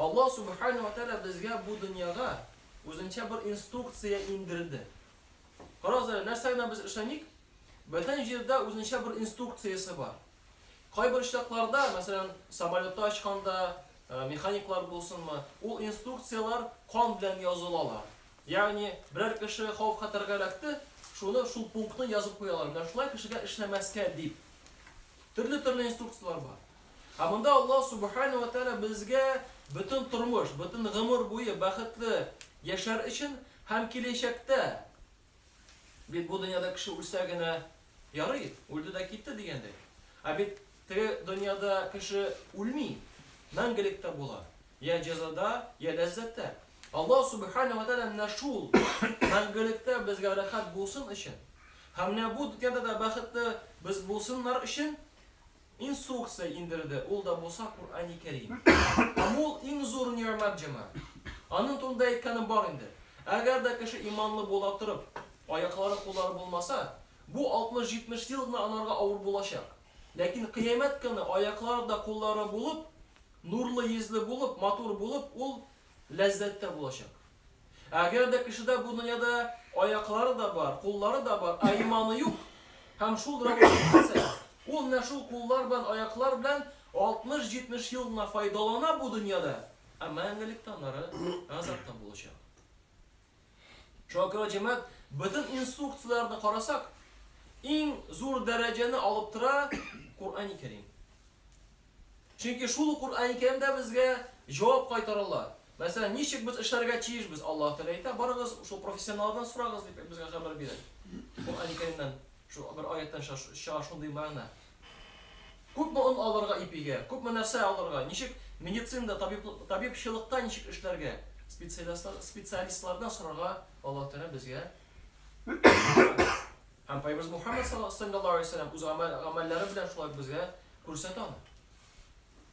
Аллаһ Сүбхәнәһү вә Тәгалә безгә бу дөньяга үзенчә бер инструкция иңдерде. Карагыз әле, нәрсә генә без эшләмик, бөтен җирдә үзенчә бер инструкциясе бар. Кайбер очракларда, мәсәлән, самолетта очканда, э, механиклар булсынмы, ул инструкцияләр кан белән язылалар. Ягъни, берәр кеше хавыф-хәтәргә эләкте, шуны шул пунктны язып куялар, менә шулай кешегә эшләмәскә дип. Төрле-төрле инструкцияләр бар. Ә монда Аллаһ Субхана ва Тәгалә безгә бөтен тормыш, бөтен гомер буе бәхетле яшәр өчен һәм киләчәктә, бит бу дөньяда кеше үлсә генә ярый, үлде дә китте дигәндәй. Ә бит теге дөньяда кеше үлми, мәңгелеккә була, йә җәзада, йә ләззәттә. Аллаһ Субхана ва Тәгалә менә шул мәңгелектә безгә рәхәт булсын өчен һәм менә бу дөньяда да бәхетле без булсыннар өчен, Инсукция индерде, ул да булса Курани Кәрим. Һәм ул иң зур нигъмәт, җәмәгать. Аның турында әйткәнем бар инде. Әгәр дә кеше иманлы була торып, аяклары, куллары булмаса, бу 60-70 ел гына анарга авыр булачак. Ләкин кыямәт көне аяклары да, куллары булып, нурлы йөзле булып, матур булып, ул Ләззәт тә булачак. Ә әгәр дә кешедә бу дөньяда аяклары да бар, куллары да бар, ә иманы юк һәм шул рәвештә яшәсә, ул менә шул куллар белән, аяклар белән 60-70 ел гына файдалана бу дөньяда, ә мәңгелекте аннары газапта булачак. Чөнки, җәмәгать, бөтен инструкцияләрне карасак, иң зур дәрәҗәне алып тора Коръәни Кәрим. Чөнки шул ук Коръәни Кәримдә безгә җавап кайтаралар. Мәсәлән, ничек без эшләргә тиешбез? Аллаһ Тәгалә әйтә, барыгыз, шул профессионалдан сорагыз, дип безгә хәбәр бирә. Коръәни Кәримнән шул бер аяттан чыга шундый мәгънә. Күпме он алырга ипигә, күпме нәрсә алырга, ничек медицинада, табиб-табибчылыкта ничек эшләргә, специалистлар, специалистлардан сорарга Аллаһ Тәгалә безгә өйрәтә. Һәм Пәйгамбәребез Мухәммәд саллаллаһу алейһи вә сәлләм үз гамәл, гамәлләре белән шулай ук безгә күрсәтә аны.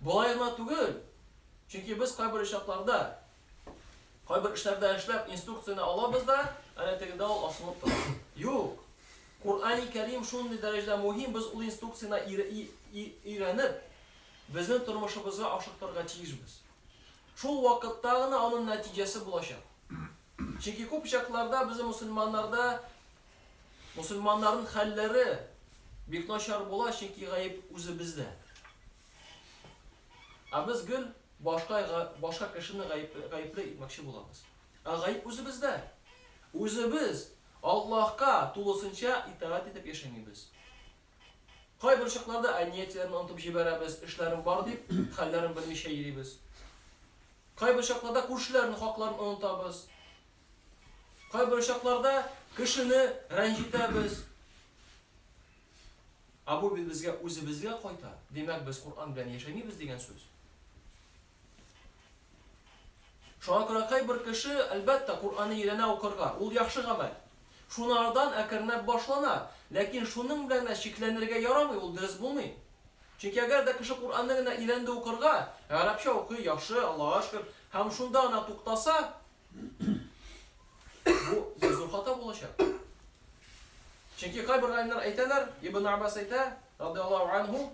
Болай гына түгел, чөнки без кайбер очракларда, кайбер эшләрдә эшләп, инструкцияне алабыз да, әнә тегедә ул асылып тора. Юк! Коръәни Кәрим шундый дәрәҗәдә мөһим, без ул инструкцияне өйрәнеп, безнең тормышыбызга ашыктырырга тиешбез. Шул вакытта гына аның нәтиҗәсе булачак. Чөнки күп очракларда безнең мөселманнарда Мусульманнарның хәлләре бик начар була, чөнки гаеп үзебездә. Ә без гел башка башка кешене гаепле итмәкче булабыз. Ә гаеп үзебездә. Үзебез Аллаһка тулысынча итагать итеп яшәмибез. Кайбер чакларда әниятеләрне онтып җибәрәбез, эшләрем бар дип, хәлләрен белмичә йөрибез. Кайбер чакларда күршеләрнең хакларын онытабыз, Кайбер очакларда кешене рәнҗетәбез. Ә бу бит безгә үзебезгә кайта. Димәк, без Коръән белән яшәмибез дигән сүз. Шуңа күрә кайбер кеше, әлбәттә, Коръәнне өйрәнә укырга, ул яхшы гамәл. Шуны арадан әкренләп башлана. Ләкин шуның белән генә чикләнергә ярамый, ул дөрес булмый. Чөнки әгәр дә кеше Коръәнне генә өйрәнде укырга, гарәпчә укый, яхшы, Аллага шөкер, һәм шунда гына туктаса, Бу зур хата булачак. Чөнки кайбер галимнәр әйтәләр, Ибн Аббас әйтә, радиаллаһу анһу,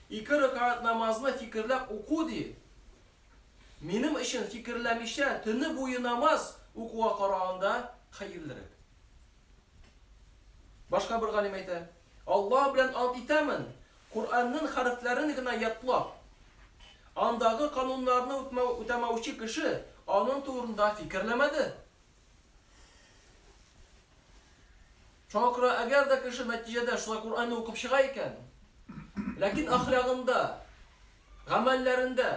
ике рәкәгать намазны фикерләп уку ди. Минем өчен фикерләмичә төне буе намаз укуга караганда хәерлерәк. Башка бер галим әйтә, Аллаһ белән ант итәмен, Коръәннен хәрефләрен генә ятлап, андагы кануннарны үтмәү үтәмәүче кеше анын турында фикерләмәде. Шуңа күрә әгәр дә кеше нәтиҗәдә шулай Коръәнне укып чыга икән, ләкин әхлягында, гамәлләрендә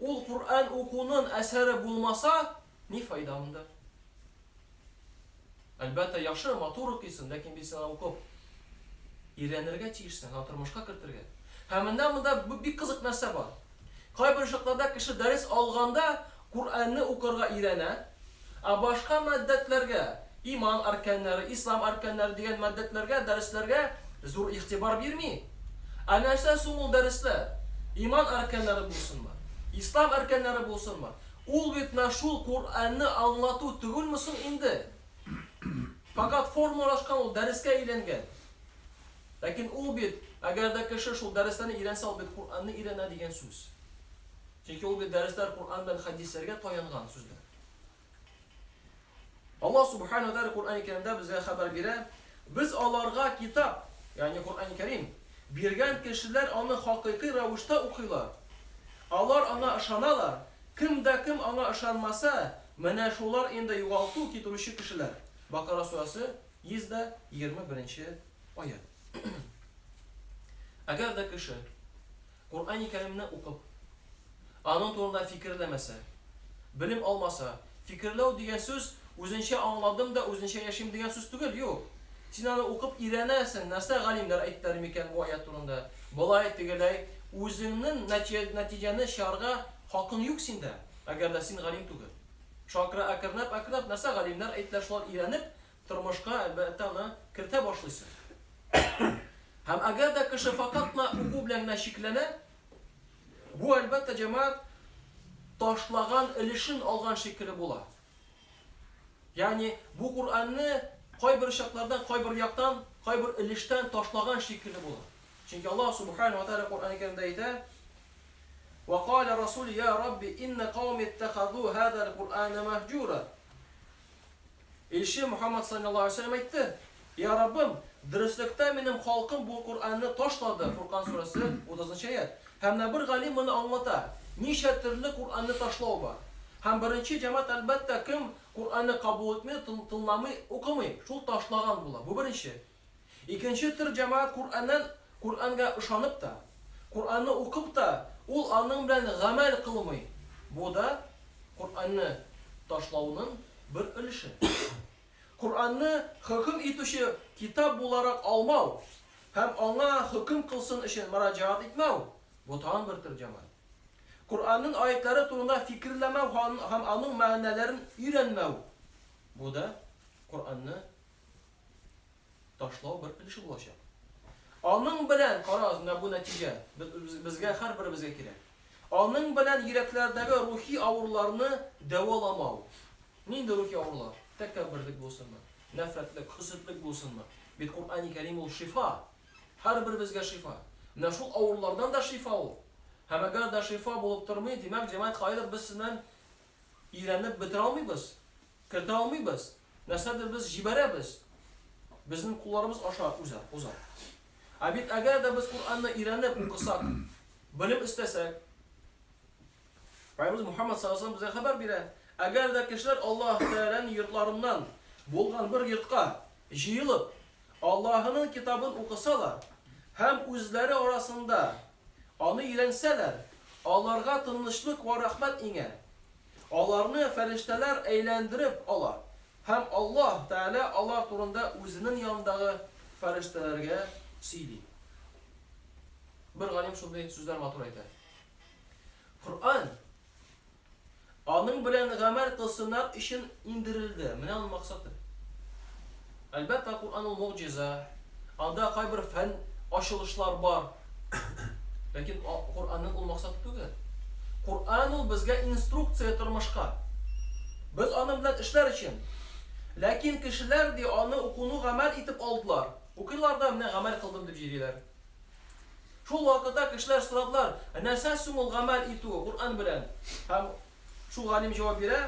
ул Коръән укунын әсәре булмаса, Ни файда анда? Әлбәттә, яхшы, матур укыйсың, ләкин бит сиңа укып, өйрәнергә тиешсең, һәм тормышка кертергә. Һәм менә монда бик кызык нәрсә бар. Кайбер очракларда кеше дәрес алганда Коръәнне укырга өйрәнә, ә башка маддәтләргә, иман арканнары, ислам арканнары дигән маддәтләргә, дәресләргә зур игътибар бирми. Ә нәрсә соң ул дәресләр? Иман арканнары булсынмы? Ислам арканнары булсынмы? Ул бит менә шул Коръәнне аңлату түгелме соң инде? Фәкать формалашкан ул, дәрескә әйләнгән. Ләкин ул бит, әгәр дә кеше шул дәресләрне өйрәнсә, ул бит Коръәнне өйрәнә дигән сүз. Чөнки ул бит дәресләр Коръән белән хәдисләргә таянган сүзләр. Аллаһ Субхана ва Тәгалә Коръәни Кәримдә безгә хәбәр бирә, Без аларга Китап, ягъни Коръәни Кәрим, биргән кешеләр аны хакыйкый рәвештә укыйлар. Алар аңа ышаналар. Кем дә кем аңа ышанмаса, менә шулар инде югалту китерүче кешеләр. Бакара сүрәсе, 121 нче аять. Әгәр дә кеше Коръәни Кәримне укып, аның турында фикерләмәсә, белем алмаса, фикерләү дигән сүз үзенчә аңладым да үзенчә яшим дигән сүз түгел, юк. Син аны укып өйрәнәсең, нәрсә галимнәр әйттеләр микән бу аять турында, болай, тегеләй, үзеңнен нәтиҗәне чыгарга хакың юк синдә, әгәр дә син галим түгел. Шакыры әкренләп-әкренләп нәрсә галимнәр әйттеләр шулар өйрәнеп, Тормышка, әлбәттә, аны кертә башлыйсың. Һәм әгәр дә кеше факат кына уку белән генә чикләнә, бу, әлбәттә, җәмәгать ташлаган өлешен алган шикелле була. Ягъни, бу Коръәнне кайбер чаклардан, кайбер яктан, кайбер өлештән ташлаган шикелле була. Чөнки Аллаһ Субхана ва Тәгалә Коръәни Кәримдә әйтә: "Ва кала Расул, я Рабби, инна кауми иттахазу хазал Коръәна мәһҗүра". Илче Мөхәммәд салләллаһу галәйһи ва сәлләм әйтте, Йә Раббым, дөреслектә минем халкым бу Коръәнне ташлады, Фуркан сүрәсе, 30 нчы аять. Һәм менә бер галим моны аңлата, ничә төрле Коръәнне ташлау бар. Һәм беренче җәмәгать, әлбәттә, кем Коръәнне кабул итми, тын, тыңламый, укымый, шул ташлаган була. Бу беренче. Икенче төр җәмәгать Коръәннән Коръәнгә ышанып та, Коръәнне укып та, ул аның белән гамәл кылмый. Бу да Коръәнне ташлауның бер өлеше. Коръәнне хөкем итүче китап буларак алмау һәм аңа хөкем кылсын өчен мөрәҗәгать итмәү, бу тагын бер төр җәмәгать. Коръәннең аятьләре турында фикерләмәү һәм аның мәгънәләрен өйрәнмәү, бу да Коръәнне ташлау бер өлеше булачак. Аның белән, карагыз, менә бу нәтиҗә безгә һәрберебезгә кирәк. Аның белән йөрәкләрдәге рухи авыруларны дәваламау. Нинди рухи авырулар? Тәкәбберлек булсынмы, нәфрәтлек, хөсетлек булсынмы? Бит Куръани Кәрим ул шифа. Һәрберебезгә шифа. Менә шул авырулардан да шифа ул. Һәм әгәр дә шифа булып тормый, димәк, җәмәгать кайдыр без сезнән өйрәнеп бетерә алмыйбыз, кертә алмыйбыз. Нәрсәдер без җибәрәбез, безнең кулларыбыз аша уза, уза. Ә бит әгәр дә без Коръәнне өйрәнеп укысак, белем эстәсәк, Пәйгамбәребез Мухаммад саллаллаһу алейһи ва саллям безгә хәбәр бирә, әгәр дә кешеләр Аллаһ Тәгаләнең йортларыннан булган бер йортка җыелып, Аллаһының китабын укысалар һәм үзләре арасында Аны өйрәнсәләр, аларга тынычлык вә рәхмәт иңә. Аларны фәрештәләр әйләндереп ала һәм Аллаһ Тәгалә алар турында Үзенең янындагы фәрештәләргә сөйли. Бер галим шундый сүзләр матур әйтә. Коръән. Аның белән гамәл кылсыннар өчен иңдерелде. Менә аның максаты. Әлбәттә, Коръән ул могҗиза. Анда кайбер фән ачылышлар бар. Ләкин Коръәннең ул максаты түгел. Коръән ул безгә инструкция тормышка. Без аның белән эшләр өчен. Ләкин кешеләр, ди, аны укуны гамәл итеп алдылар. Укыйлар да, менә гамәл кылдым дип җөриләр. Шул вакытта кешеләр сорадылар, Ә нәрсә соң ул гамәл итү Коръән белән? Һәм шул галим җавап бирә,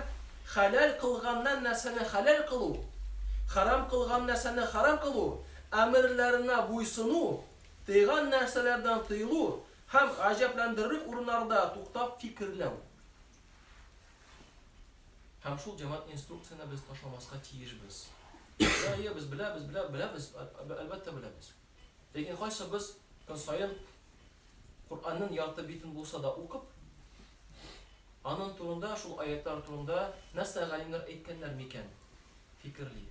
Хәләл кылганнан нәрсәне хәләл кылу, хәрам кылган нәрсәне хәрам кылу, әмерләренә буйсыну, тыйган нәрсәләрдән тыелу һәм гаҗәпләндерерлек урыннарда туктап фикерләү. Һәм шул җәмәгать инструкцияне без ташламаска тиешбез. Әйе, без беләбез, белә, беләбез, әлбәттә беләбез. Ләкин кайсыбыз көн саен Коръәннең ярты битен булса да укып, аның турында, шул аятьләр турында нәрсә галимнәр әйткәннәр микән? фикерли?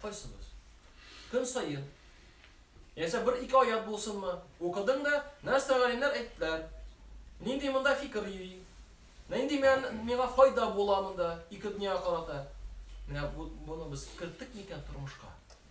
Кайсыбыз? Көн саен, яисә бер-ике аять булсынмы, укыдың да, нәрсә галимнәр әйттеләр? Нинди монда фикер йөри? Нинди миңа файда була монда ике дөньяга карата? Менә буны без керттек микән тормышка?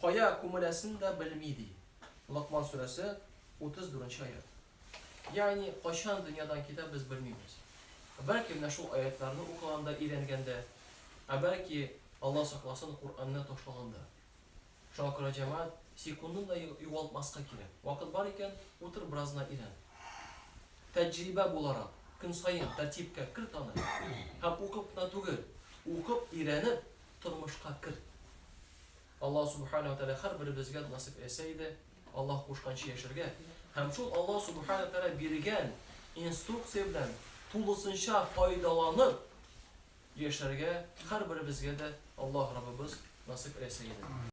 Кая күмеләсен дә белми, ди. Локман сүрәсе, 34 нче аять. Ягъни, кайчан дөньядан китә, без белмибез. Бәлки менә шул аятьләрне укыганда өйрәнгәндер, ә бәлки, Алла сакласын, Коръәнне ташлагандыр. Шуңа күрә, җәмәгать, секундын да югалтмаска кирәк. Вакыт бар икән, утыр бераз гына өйрән. Тәҗрибә буларак, көн саен тәртипкә керт аны. Һәм укып кына түгел, укып, өйрәнеп, тормышка керт. Аллаһ Сүбхәнәһү вә Тәгалә һәрберебезгә насыйп әйтсә иде, Аллаһ кушканча яшәргә һәм шул Аллаһ Сүбхәнәһү вә Тәгалә биргән инструкция белән тулысынча файдаланып яшәргә һәрберебезгә дә Аллаһ Раббыбыз насыйп әйтсә иде.